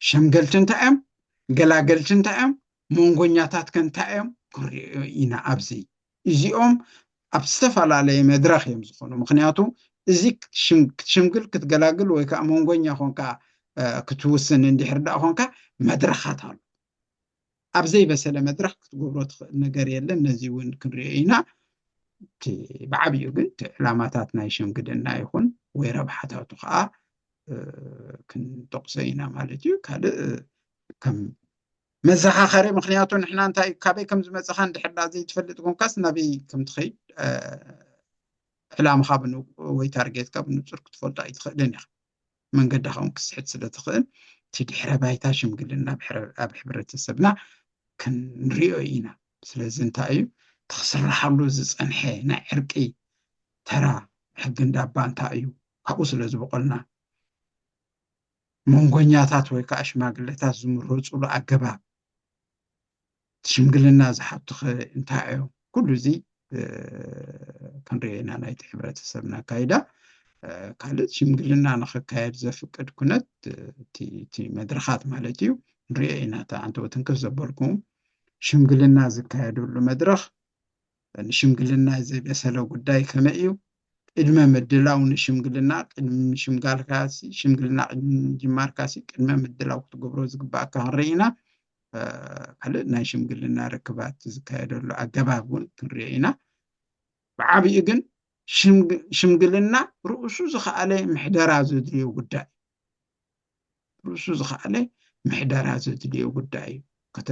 ሸምገልቲ እንታይ እዮም ገላገልቲ እንታይ እዮም መንጎኛታት ከ እንታይ እዮም ክንሪኦ ኢና ኣብዚ እዚኦም ኣብ ዝተፈላለየ መድረኽ እዮም ዝኾኑ ምክንያቱ እዚ ክትሽምግል ክትገላግል ወይ ከዓ መንጎኛ ኮንካ ክትውስን እንድሕር ዳኣ ኮንካ መድረኻት ኣሎ ኣብ ዘይበሰለ መድረኽ ክትገብሮ ትኽእል ነገር የለን ነዚ እውን ክንሪኦ ኢና እቲ ብዓብኡ ግን እቲ ዕላማታት ናይ ሸምግደና ይኹን ወይ ረብሓታቱ ከዓ ክንጠቕሶ ኢና ማለት እዩ ካልእ ከም መዘኻኸሪ ምክንያቱ ንሕና እንታይ ካበይ ከም ዝመፅኻ እንድሕር ዳ ዘይትፈልጥ ኮንካስ ናበይ ከም ትኸይድ ዕላምኻ ወይ ታርጌትካ ብንፁር ክትፈልጦ ኣይትኽእልን ኢኻ መንገድኻ ውን ክትስሕት ስለ ትኽእል እቲ ድሕረ ባይታ ሽምግልና ኣብ ሕብረተሰብና ክንሪኦ ኢና። ስለዚ እንታይ እዩ እቲ ክስርሓሉ ዝጸንሐ ናይ ዕርቂ ተራ ሕጊ እንዳባ እንታይ እዩ ካብኡ ስለ ዝበቖልና መንጎኛታት ወይ ከዓ ሽማግለታት ዝምረጹሉ ኣገባብ፣ እቲ ሽምግልና ዝሓቱኸ እንታይ እዮም? ኩሉ እዚ ክንሪኦ ኢና ናይቲ ሕብረተሰብ ኣካይዳ። ካልእ ሽምግልና ንክካየድ ዘፍቅድ ኩነት እቲ መድረኻት ማለት እዩ ንሪኦ ኢና። እቲ ኣንተወትንክፍ ዘበልኩም ሽምግልና ዝካየደሉ መድረኽ ንሽምግልና ዘይበሰለ ጉዳይ ከመይ እዩ ቅድመ ምድላው ንሽምግልና ቅድሚ ምሽምጋልካሲ ሽምግልና ቅድሚ ምጅማርካሲ ቅድመ ምድላው ክትገብሮ ዝግባእካ ክንርኢ ኢና ካልእ ናይ ሽምግልና ርክባት ዝካየደሉ ኣገባብ እውን ክንሪኦ ኢና ብዓብኡ ግን ሽምግልና ርእሱ ዝኸኣለ ምሕደራ ዘድልዮ ጉዳይ ርእሱ ዝኸኣለ ምሕደራ ዘድልዮ ጉዳይ እዩ።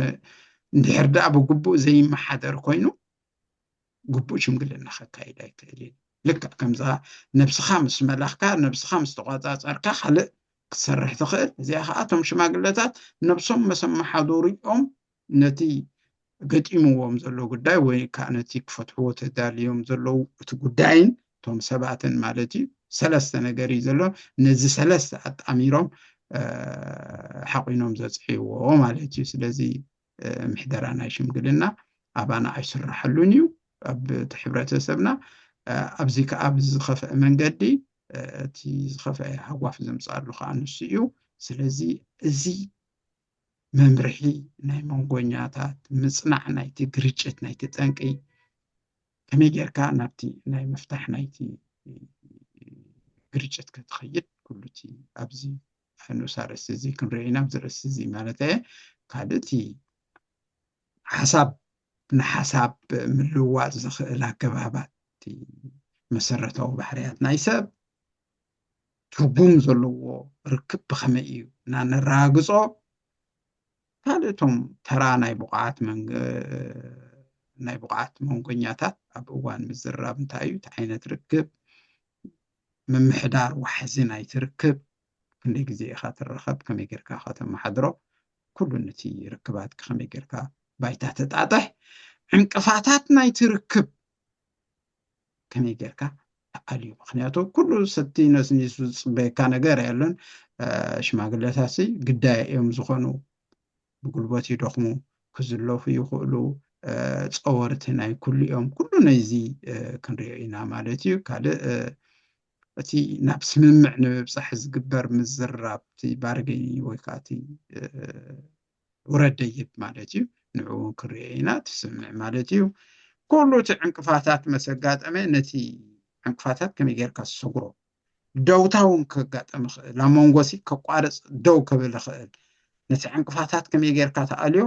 እንድሕር ደኣ ብግቡእ ዘይመሓደር ኮይኑ ግቡእ ሽምግልና ከካይድ ኣይክእልን ልክዕ ከምዛ ነብስኻ ምስ መላኽካ ነብስኻ ምስ ተቆፃፀርካ ካልእ ክትሰርሕ ትኽእል እዚኣ ከዓ እቶም ሽማግለታት ነብሶም መሰ መሓዱሪኦም ነቲ ገጢምዎም ዘሎ ጉዳይ ወይ ከኣ ነቲ ክፈትሕዎ ተዳልዮም ዘለዉ እቲ ጉዳይን እቶም ሰባትን ማለት እዩ ሰለስተ ነገር እዩ ዘሎ ነዚ ሰለስተ ኣጣሚሮም ሓቒኖም ዘጽዕይዎ ማለት እዩ ስለዚ ምሕደራ ናይ ሽምግልና ኣባና ኣይስራሓሉን እዩ ኣብ እቲ ሕብረተሰብና ኣብዚ ከዓ ብዝኸፍአ መንገዲ እቲ ዝኸፍአ ሃጓፍ ዘምፅኣሉ ከዓ ንሱ እዩ ስለዚ እዚ መምርሒ ናይ መንጎኛታት ምጽናዕ ናይቲ ግርጭት ናይቲ ጠንቂ ከመይ ጌርካ ናብቲ ናይ ምፍታሕ ናይቲ ግርጭት ከትኸይድ ኩሉ እቲ ኣብዚ ንኡስ ኣርእስቲ እዚ ክንሪኦ ኢና ኣብዚ ርእስቲ እዚ ማለት እየ ካልእ እቲ ሓሳብ ንሓሳብ ምልውዋጥ ዝኽእል ኣገባባት መሰረታዊ ባህርያት ናይ ሰብ ትርጉም ዘለዎ ርክብ ብኸመይ እዩ እና ነረጋግጾ ካልእ እቶም ተራ ናይ ብቑዓት ናይ ብቑዓት መንጎኛታት ኣብ እዋን ምዝርራብ እንታይ እዩ እቲ ዓይነት ርክብ ምምሕዳር ዋሕዚ ናይቲ ርክብ ክንደይ ግዜ ኢኻ ትራኸብ ከመይ ጌርካ ኢኻ ተመሓድሮ ኩሉ ነቲ ርክባት ከመይ ጌርካ ባይታ ተጣጥሕ ዕንቅፋታት ናይቲ ርክብ ከመይ ጌርካ ተኣልዩ ምክንያቱ ኩሉ ሰቲ ነስ ንሱ ዝፅበየካ ነገር ኣየሎን ሽማግለታትሲ ግዳይ እዮም ዝኾኑ ብጉልበት ይደኽሙ ክዝለፉ ይኽእሉ ፀወርቲ ናይ ኩሉ እዮም ኩሉ ነዚ ክንሪኦ ኢና ማለት እዩ ካልእ እቲ ናብ ስምምዕ ንምብፃሕ ዝግበር ምዝራብ እቲ ባርገኒ ወይ ከዓ እቲ ውረድ ደይብ ማለት እዩ ንዕኡ ክንሪኦ ኢና ትስምዕ ማለት እዩ ኩሉ እቲ ዕንቅፋታት መሰጋጠመ ነቲ ዕንቅፋታት ከመይ ጌርካ ዝሰጉሮ ደውታ እውን ከጋጠም ይኽእል ኣብ መንጎሲ ከቋርፅ ደው ከብል ይኽእል ነቲ ዕንቅፋታት ከመይ ጌርካ ተኣልዮ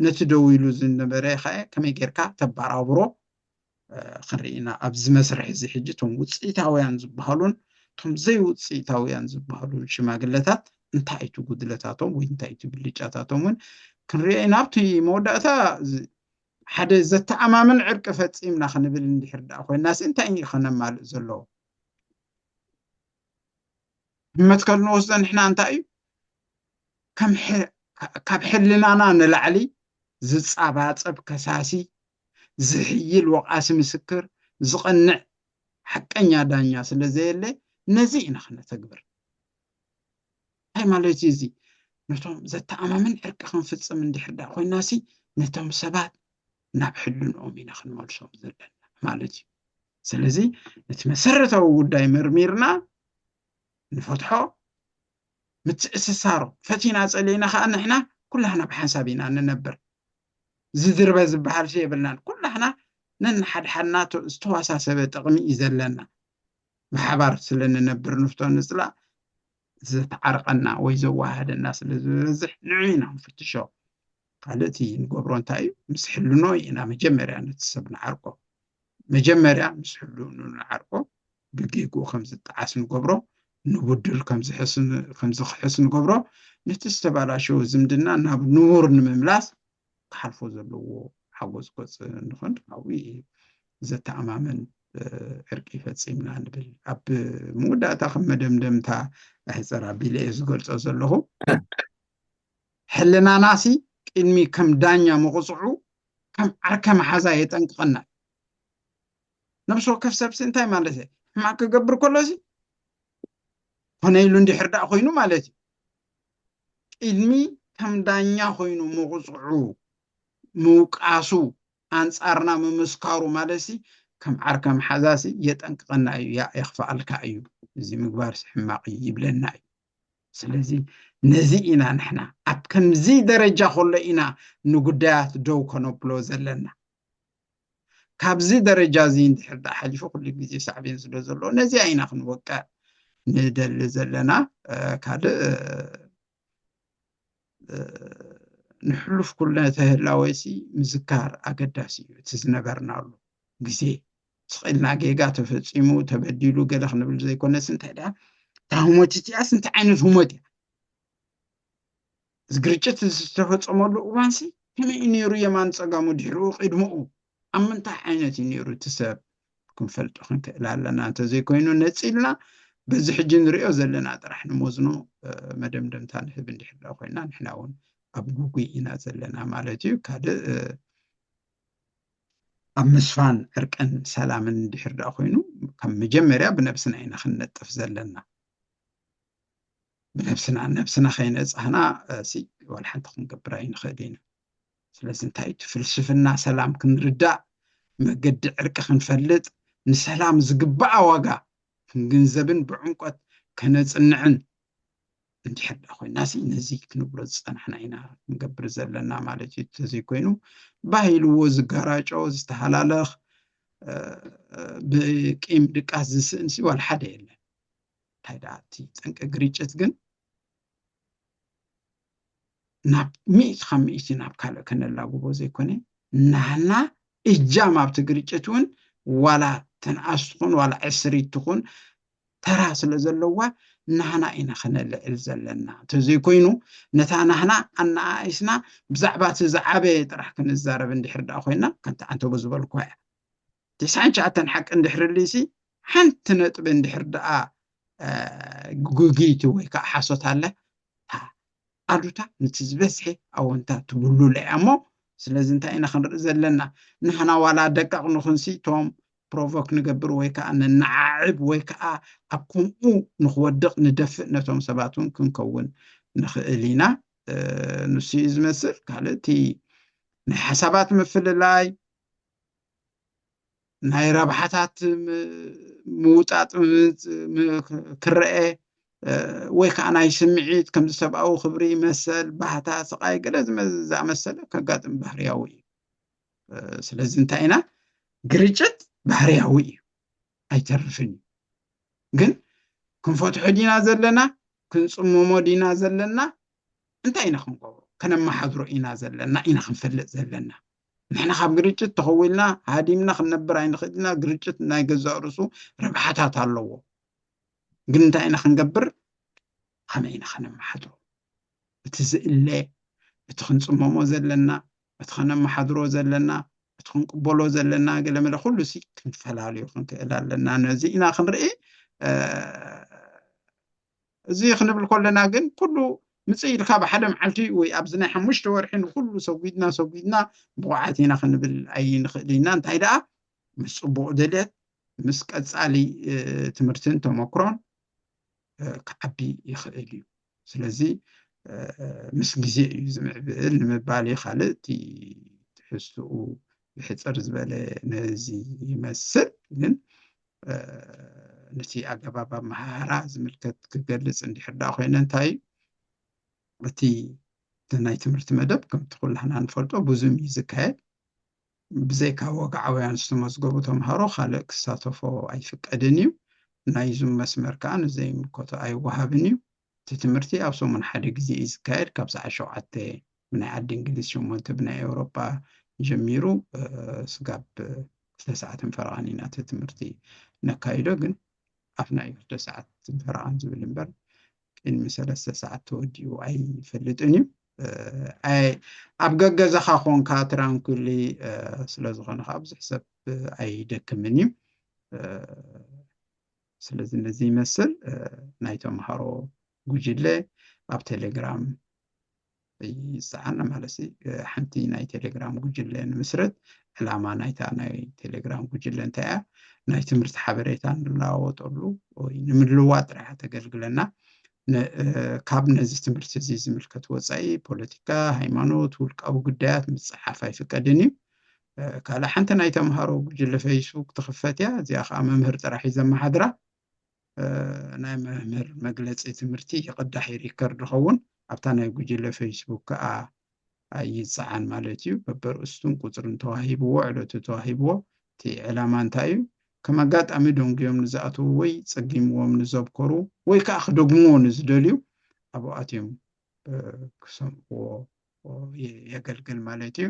ነቲ ደው ኢሉ ዝነበረ ከ ከመይ ጌርካ ተበራብሮ ክንርኢ ኢና ኣብዚ መስርሕ እዚ ሕጂ እቶም ውፅኢታውያን ዝበሃሉን እቶም ዘይውፅኢታውያን ዝበሃሉን ሽማግለታት እንታይ እቲ ጉድለታቶም ወይ እንታይ እቲ ብልጫታቶም እውን ክንሪኦ ኢና ኣብቲ መወዳእታ ሓደ ዘተኣማምን ዕርቂ ፈፂምና ክንብል እንድሕር ደኣ ኮይናሲ እንታይ እዩ ከነማልእ ዘለዎ መትከል ንወስዶ ንሕና እንታይ እዩ ካብ ሕልናና ንላዕሊ ዝፃባፀብ ከሳሲ ዝሕይል ወቓሲ ምስክር፣ ዝቐንዕ ሓቀኛ ዳኛ ስለ ዘየለ ነዚ ኢና ክነተግብር። እንታይ ማለት'ዩ እዚ? ነቶም ዘተኣማምን ዕርቂ ክንፍጽም እንድሕር ደኣ ኮይናሲ ነቶም ሰባት ናብ ሕልንኦም ኢና ክንመልሶም ዘለና ማለት እዩ። ስለዚ ነቲ መሰረታዊ ጉዳይ መርሚርና ንፈትሖ፣ ምትእስሳሮ ፈቲና ጸሊእና ከኣ ንሕና ኩላህና ብሓንሳብ ኢና ንነብር። ዝድርበ ዝበሃልሲ የብልናን። ኩላህና ነንሓድሓድና ዝተዋሳሰበ ጥቕሚ እዩ ዘለና። ብሓባር ስለ ንነብር ንፍቶ ንጽላእ ዘተዓርቐና ወይ ዘወሃህደና ስለ ዝበዝሕ ንዑ ኢና ንፍትሾ። ካልእ እቲ ንገብሮ እንታይ እዩ? ምስ ሕልኖ ኢና መጀመርያ ነቲ ሰብ ንዓርቆ። መጀመርያ ምስ ሕልንኡ ንዓርቆ። ብጌግኡ ከም ዝጠዓስ ንገብሮ፣ ንቡድል ከም ዝኽሕስ ንገብሮ፣ ነቲ ዝተባላሸወ ዝምድና ናብ ንቡር ንምምላስ ክሓልፎ ዘለዎ ሓጎጽጎጽ ንኾን ካብኡ ዘተኣማምን ዕርቂ ፈጺምና ንብል። ኣብ መወዳእታ ከም መደምደምታ ኣሕጽር ኣቢለ እየ ዝገልጾ ዘለኹ። ሕልናናሲ ቅድሚ ከም ዳኛ ምቕጽዑ ከም ዓርከ መሓዛ የጠንቅቐና እዩ። ነብሲ ወከፍ ሰብሲ እንታይ ማለት እየ ሕማቅ ክገብር ከሎሲ ኮነ ኢሉ እንድሕር ዳኣ ኮይኑ ማለት እዩ ቅድሚ ከም ዳኛ ኮይኑ ምቁፅዑ ምውቃሱ ኣንፃርና ምምስካሩ ማለትሲ ከም ዓርከ መሓዛሲ የጠንቅቐና እዩ ያ የኽፍኣልካ እዩ እዚ ምግባርሲ ሕማቅ እዩ ይብለና እዩ ስለዚ ነዚ ኢና ንሕና ኣብ ከምዚ ደረጃ ከሎ ኢና ንጉዳያት ደው ከነብሎ ዘለና ካብዚ ደረጃ እዚ እንድሕር ደኣ ሓሊፉ ኩሉ ግዜ ሳዕቤን ስለ ዘለዎ ነዚኣ ኢና ክንወቅዕ ንደሊ ዘለና ካልእ ንሕሉፍ ኩልነ ተህላወሲ ምዝካር ኣገዳሲ እዩ እቲ ዝነበርናሉ ግዜ ስቂልና ጌጋ ተፈፂሙ ተበዲሉ ገለ ክንብል ዘይኮነስ እንታይ ደኣ እታ ህሞት እቲኣስ እንታይ ዓይነት ህሞት እያ እዚ ግርጭት እዚ ዝተፈጸመሉ እዋንሲ ከመይ እዩ ነይሩ የማን ጸጋሙ ድሕርኡ ቅድምኡ ኣብ ምንታይ ዓይነት እዩ ነይሩ እቲ ሰብ ክንፈልጦ ክንክእል ኣለና እንተዘይኮይኑ ነጺልና በዚ ሕጂ ንሪኦ ዘለና ጥራሕ ንመዝኖ መደምደምታ ንህብ እንድሕር ዳኣ ኮይና ንሕና እውን ኣብ ጉጉይ ኢና ዘለና ማለት እዩ ካልእ ኣብ ምስፋን ዕርቅን ሰላምን እንድሕር ዳኣ ኮይኑ ካብ መጀመርያ ብነብስና ኢና ክንነጥፍ ዘለና ንነብስና ንነብስና ከይነጻህና እዚ ዋላ ሓንቲ ክንገብር ኣይንኽእል ኢና ስለዚ እንታይ እቲ ፍልስፍና ሰላም ክንርዳእ መገዲ ዕርቂ ክንፈልጥ ንሰላም ዝግባኣ ዋጋ ክንግንዘብን ብዕምቆት ከነፅንዕን እንድሕር ዳ ኮይና ሲ ነዚ ክንብሎ ዝፀናሕና ኢና ክንገብር ዘለና ማለት እዩ ተዘይኮይኑ ባሂልዎ ዝጋራጮ ዝተሃላለኽ ብቂም ድቃስ ዝስእንሲ ዋላ ሓደ የለን እንታይ ደኣ እቲ ጠንቂ ግርጭት ግን ናብ ሚእቲ ካብ ሚእቲ ናብ ካልእ ከነላጉቦ ዘይኮነ ናህና እጃም ኣብቲ ግርጭት እውን ዋላ ተንኣስ ትኹን ዋላ ዕስሪት ትኹን ተራ ስለ ዘለዋ ናህና ኢና ከነልዕል ዘለና እንተዘይኮይኑ ነታ ናህና ኣነኣኢስና ብዛዕባ እቲ ዝዓበየ ጥራሕ ክንዛረብ እንድሕር ደኣ ኮይና ከምቲ ኣንተጎ ዝበልኳ እያ ትስዓን ትሽዓተን ሓቂ እንድሕርልዩሲ ሓንቲ ነጥቢ እንድሕር ደኣ ጉግይቲ ወይ ከዓ ሓሶት ኣላ ኣሉታ ነቲ ዝበዝሐ ኣወንታ ትብሉላ እያ እሞ ስለዚ እንታይ ኢና ክንርኢ ዘለና ንሕና ዋላ ደቀቕ ንኹንሲ እቶም ፕሮቮክ ንገብር ወይ ከዓ ነነዓዕብ ወይ ከዓ ኣብ ከምኡ ንክወድቕ ንደፍእ ነቶም ሰባት እውን ክንከውን ንኽእል ኢና ንሱ እዩ ዝመስል ካልእ እቲ ናይ ሓሳባት ምፍልላይ ናይ ረብሓታት ምውጣጥ ክረአ ወይ ከዓ ናይ ስምዒት ከም ሰብኣዊ ክብሪ መሰል ባህታ ስቃይ ገለ ዝኣመሰለ ከጋጥም ባህርያዊ እዩ ስለዚ እንታይ ኢና ግርጭት ባህርያዊ እዩ ኣይተርፍን እዩ ግን ክንፈትሖ ዲና ዘለና ክንፅምሞ ዲና ዘለና እንታይ ኢና ክንገብሮ ከነመሓድሮ ኢና ዘለና ኢና ክንፈልጥ ዘለና ንሕና ካብ ግርጭት ተኸዊልና ሃዲምና ክንነብር ኣይንኽእልና ግርጭት ናይ ገዛእ ርእሱ ረብሓታት ኣለዎ ግን እንታይ ኢና ክንገብር ከመይ ኢና ከነመሓድሮ እቲ ዝእለ እቲ ክንፅመሞ ዘለና እቲ ከነመሓድሮ ዘለና እቲ ክንቅበሎ ዘለና ገለመለ ኩሉ ሲ ክንፈላለዩ ክንክእል ኣለና ነዚ ኢና ክንርኢ እዚ ክንብል ከለና ግን ኩሉ ምጽእ ኢልካ ብሓደ መዓልቲ ወይ ኣብዚ ናይ ሓሙሽተ ወርሒ ንኹሉ ሰጒድና ሰጒድና ብቑዓት ኢና ክንብል ኣይንኽእል ኢና እንታይ ደኣ ምስ ጽቡቕ ድልየት ምስ ቀጻሊ ትምህርትን ተመክሮን ክዓቢ ይኽእል እዩ ስለዚ ምስ ግዜ እዩ ዝምዕብል ንምባል እዩ ካልእ እቲ ትሕዝትኡ ብሕፅር ዝበለ ነዚ ይመስል ግን ነቲ ኣገባብ ኣመሃህራ ዝምልከት ክገልፅ እንድሕር ደኣ ኮይነ እንታይ እዩ እቲ ናይ ትምህርቲ መደብ ከምቲ ኩላህና ንፈልጦ ብዙም እዩ ዝካየድ ብዘይካ ወግዓውያን ዝተመዝገቡ ተምሃሮ ካልእ ክሳተፎ ኣይፍቀድን እዩ ናይ ዙም መስመር ከዓ ንዘይምልከቶ ኣይወሃብን እዩ እቲ ትምህርቲ ኣብ ሰሙን ሓደ ግዜ እዩ ዝካየድ ካብ ሰዓት ሸውዓተ ብናይ ዓዲ እንግሊዝ ሸሞንተ ብናይ ኤውሮጳ ጀሚሩ ስጋብ ክልተ ሰዓትን ፈረቓን ኢና እቲ ትምህርቲ ነካይዶ ግን ኣፍና እዩ ክልተ ሰዓትን ፈረቓን ዝብል እምበር ቅድሚ ሰለስተ ሰዓት ተወዲኡ ኣይፈልጥን እዩ ኣብ ገገዛኻ ኮንካ ትራንኩሊ ስለ ዝኾነ ከዓ ብዙሕ ሰብ ኣይደክምን እዩ ስለዚ ነዚ ይመስል ናይ ተምሃሮ ጉጅለ ኣብ ቴሌግራም ይፀዓና ማለት ሓንቲ ናይ ቴሌግራም ጉጅለ ንምስረት ዕላማ ናይታ ናይ ቴሌግራም ጉጅለ እንታይ እያ ናይ ትምህርቲ ሓበሬታ ንለዋወጠሉ ወይ ንምልዋ ጥራሕ ተገልግለና ካብ ነዚ ትምህርቲ እዚ ዝምልከት ወፃኢ ፖለቲካ ሃይማኖት ውልቃዊ ጉዳያት ምፅሓፍ ኣይፍቀድን እዩ ካልእ ሓንቲ ናይ ተምሃሮ ጉጅለ ፈይስቡክ ትኽፈት እያ እዚኣ ከዓ መምህር ጥራሕ እዩ ዘመሓድራ ናይ መምህር መግለፂ ትምህርቲ ይቕዳሕ ይሪከርድ ይኸውን ኣብታ ናይ ጉጅለ ፌስቡክ ከዓ ይፀዓን ማለት እዩ በበርእስቱን ቁፅርን ተዋሂብዎ ዕለቱ ተዋሂብዎ እቲ ዕላማ እንታይ እዩ ከም ኣጋጣሚ ደንጉዮም ንዝኣትዉ ወይ ፀጊምዎም ንዘብከሩ ወይ ከዓ ክደግምዎ ንዝደልዩ ኣብኡ ኣትዮም ክሰምዕዎ የገልግል ማለት እዩ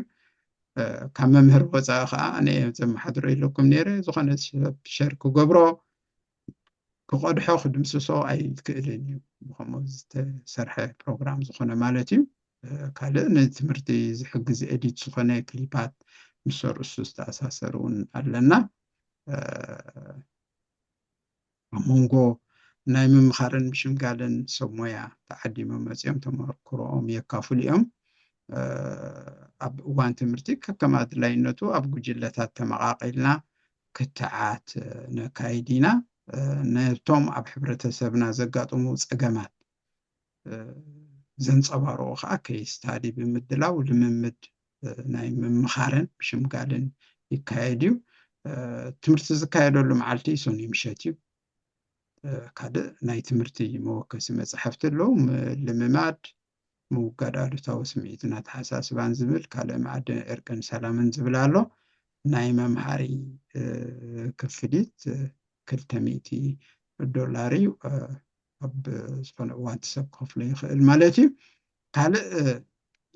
ካብ መምህር ወፃኢ ከዓ ኣነ ዘመሓድሮ የለኩም ነይረ ዝኾነ ሰብ ሸር ክገብሮ ክቐድሖ ክድምስሶ ኣይክእልን እዩ ብከምኡ ዝተሰርሐ ፕሮግራም ዝኾነ ማለት እዩ ካልእ ንትምህርቲ ዝሕግዝ ኤዲት ዝኾነ ክሊፓት ምስ ርእሱ ዝተኣሳሰር እውን ኣለና ኣብ መንጎ ናይ ምምኻርን ምሽምጋልን ሰብ ሞያ ተዓዲሞም መፂኦም ተመክሮኦም የካፍሉ እዮም። ኣብ እዋን ትምህርቲ ከከም ኣድላይነቱ ኣብ ጉጅለታት ተመቓቒልና ክትዓት ነካይድ ኢና። ነቶም ኣብ ሕብረተሰብና ዘጋጥሙ ፀገማት ዘንፀባርቑ ከዓ ኬይስ ስታዲ ብምድላው ልምምድ ናይ ምምኻርን ምሽምጋልን ይካየድ እዩ። ትምህርቲ ዝካየደሉ መዓልቲ ሰኑይ ምሸት እዩ። ካልእ ናይ ትምህርቲ መወከሲ መፅሓፍቲ ኣለዉ ልምማድ ምውጋድ ኣሉታዊ ስምዒትን ኣተሓሳስባን ዝብል ካልእ መኣዲ ዕርቅን ሰላምን ዝብል ኣሎ ናይ መምሃሪ ክፍሊት ክልተ ሚእቲ ዶላር እዩ ኣብ ዝኾነ እዋን እቲ ሰብ ክኸፍሎ ይኽእል ማለት እዩ ካልእ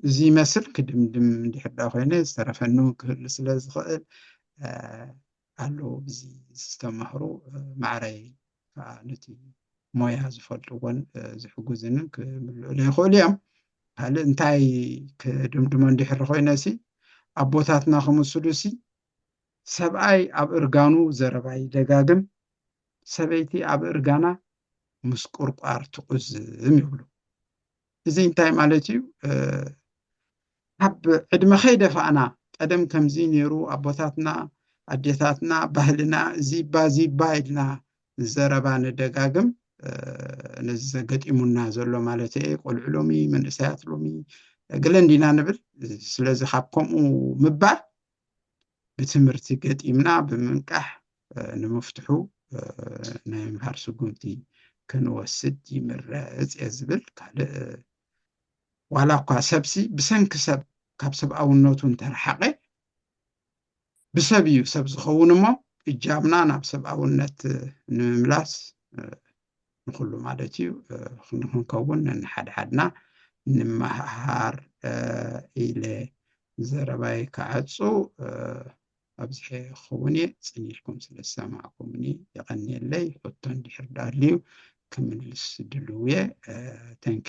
እዚ ይመስል ክድምድም እንድሕር ዳ ኮይነ ዝተረፈኒ እውን ክህሉ ስለ ዝኽእል ኣለዉ እዚ ዝተማህሩ ማዕረይ ከዓ ነቲ ሞያ ዝፈልጥዎን ዝሕጉዝንን ክምልእሉ ይኽእሉ እዮም ካልእ እንታይ ክድምድሞ እንድሕር ኮይነ ሲ ኣቦታትና ክምስሉ ሲ ሰብኣይ ኣብ እርጋኑ ዘረባ ይደጋግም፣ ሰበይቲ ኣብ እርጋና ምስ ቁርቋር ትቁዝም ይብሉ። እዚ እንታይ ማለት እዩ? ካብ ዕድመ ከይደፋእና ቀደም ከምዚ ነይሩ ኣቦታትና ኣዴታትና ባህልና እዚባ እዚባ ኢልና ዘረባ ንደጋግም ነዚ ዘገጢሙና ዘሎ ማለት እየ ቆልዑ ሎሚ መንእሰያት ሎሚ ገለ እንዲና ንብል ስለዚ ካብ ከምኡ ምባል ብትምህርቲ ገጢምና ብምንቃሕ ንምፍትሑ ናይ ምምሃር ስጉምቲ ክንወስድ ይምረፅ እየ ዝብል ካልእ ዋላ እኳ ሰብሲ ብሰንኪ ሰብ ካብ ሰብኣውነቱ እንተረሓቐ ብሰብ እዩ ሰብ ዝኸውን እሞ እጃምና ናብ ሰብኣውነት ንምምላስ ንኹሉ ማለት እዩ ክንከውን ንሓድሓድና ንመሃሃር ኢለ ዘረባይ ክዓጹ ኣብዚሐ ክኸውን እየ። ጽን ኢልኩም ስለ ዝሰማዕኩምኒ የቐንየለይ። ሕቶ እንድሕር ዳልዩ ክምልስ ድልው እየ። ተንኪ